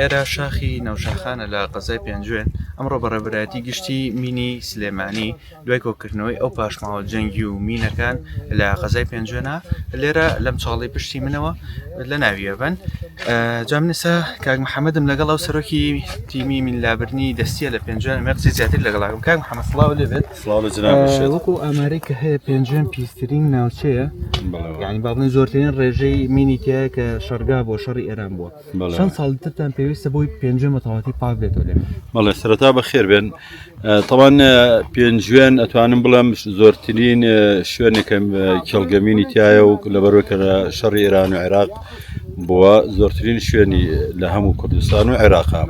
ئێرە شاخی نەوشاخانە لە قەزای پێنجوێن، ئەمڕۆ بە ڕێبەرایەتی گشتی مینی سلێمانی دوای کۆکردنەوەی ئەو پاشماوە جەنگی و مینەکان لە قەزای پێنجوێنە لێرە لەم چاڵی پشتی منەوە لە ناویەبن جا منسا کاک محەممەدم لەگەڵ ئەو سەرۆکی تیمی من لابرنی دەستیە لە پێنجوێن مەقسی زیاتر لەگەڵاکم کاک محەممەد سڵاو لێ بێت وەکو ئاماری کە هەیە پێنجوێن پیسترین ناوچەیە یعنی باڵێن زۆرترین ڕێژەی مینی تایە کە شەرگا بۆ شەڕی ئێران بووە چەند ساڵی ترتان پێویستە بۆی پێنجێ مەتەواتی پاک بێتەوە لێ بەڵێ سەرەتا بە خێر بێن تەوان پێنجوێن ئەتوانم بڵێم زۆرترین شوێنێکم کێڵگەمینی تایە و لەبەرەوە کە شەڕی ئێران و عێراق بووە زۆرترین شوێنی لە هەموو کوردستان و عێراقا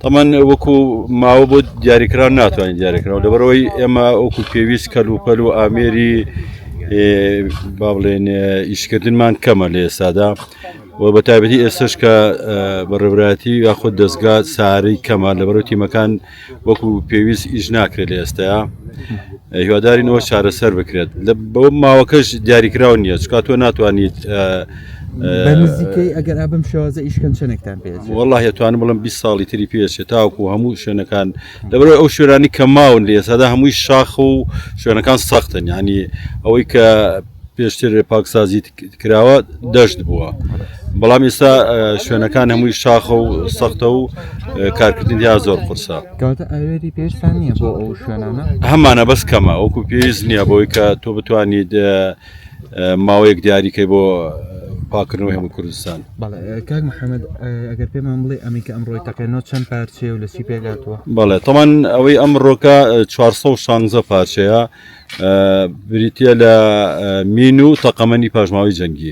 تەمان وەکو ماوە بۆ دیاریکران ناتوانین دیاریکراوە لەبەرەوەی ئێمە ئەوکو پێویست کەل و پەل و ئامێری با بڵێن ئیشکردنمان کەمە لە ئێستادا و بە تایبەتی ئێستش کە بەڕێبراتی یاخود دەستگا ساری کەمان لەبەرو تیمەکان وەکو پێویست ئیش ناکرێت لە ئێستایا هیوادارینەوە چارەسەر بکرێت لە بە ماوەکەش دیاریکراو نییە چکات تۆ ناتوانیت نزیکەی ئەگەر ئابم شێوازە ئیشکەن چنێکتان پێ والله هێتوانم بڵم 20 ساڵی تری پێچێت تاوکو هەموو شوێنەکان لەبەر ئەو شوێنانی کە ماون لە ئێسادا هەمووی شاخ و شوێنەکان سەختن ینی ئەوەی کە پێشتر پاکسازیت کراوە دەشت بووە بەڵام ئێستا شوێنەکان هەمووی شاخە و سەختە و کارکردن یا زۆر قرسە هەمانە بەس کەمە وەکو پێویست نییە بۆی کە تۆ بتوانیت ماوەیەک دیاریکەی بۆ پاکردنەوەی هەموو کوردستان کاک محەممەد ئەگەر پێمان بڵێ ئەمیکە ئەم ڕۆی تەقێنەوە چەند پارچەیە و لەسی پێگاتوە بەڵێ تەمان ئەوەی ئەم ڕۆکە 416 پارچەیە بریتییە لە مین و تەقەمەنی پاشماوەی جەنگی.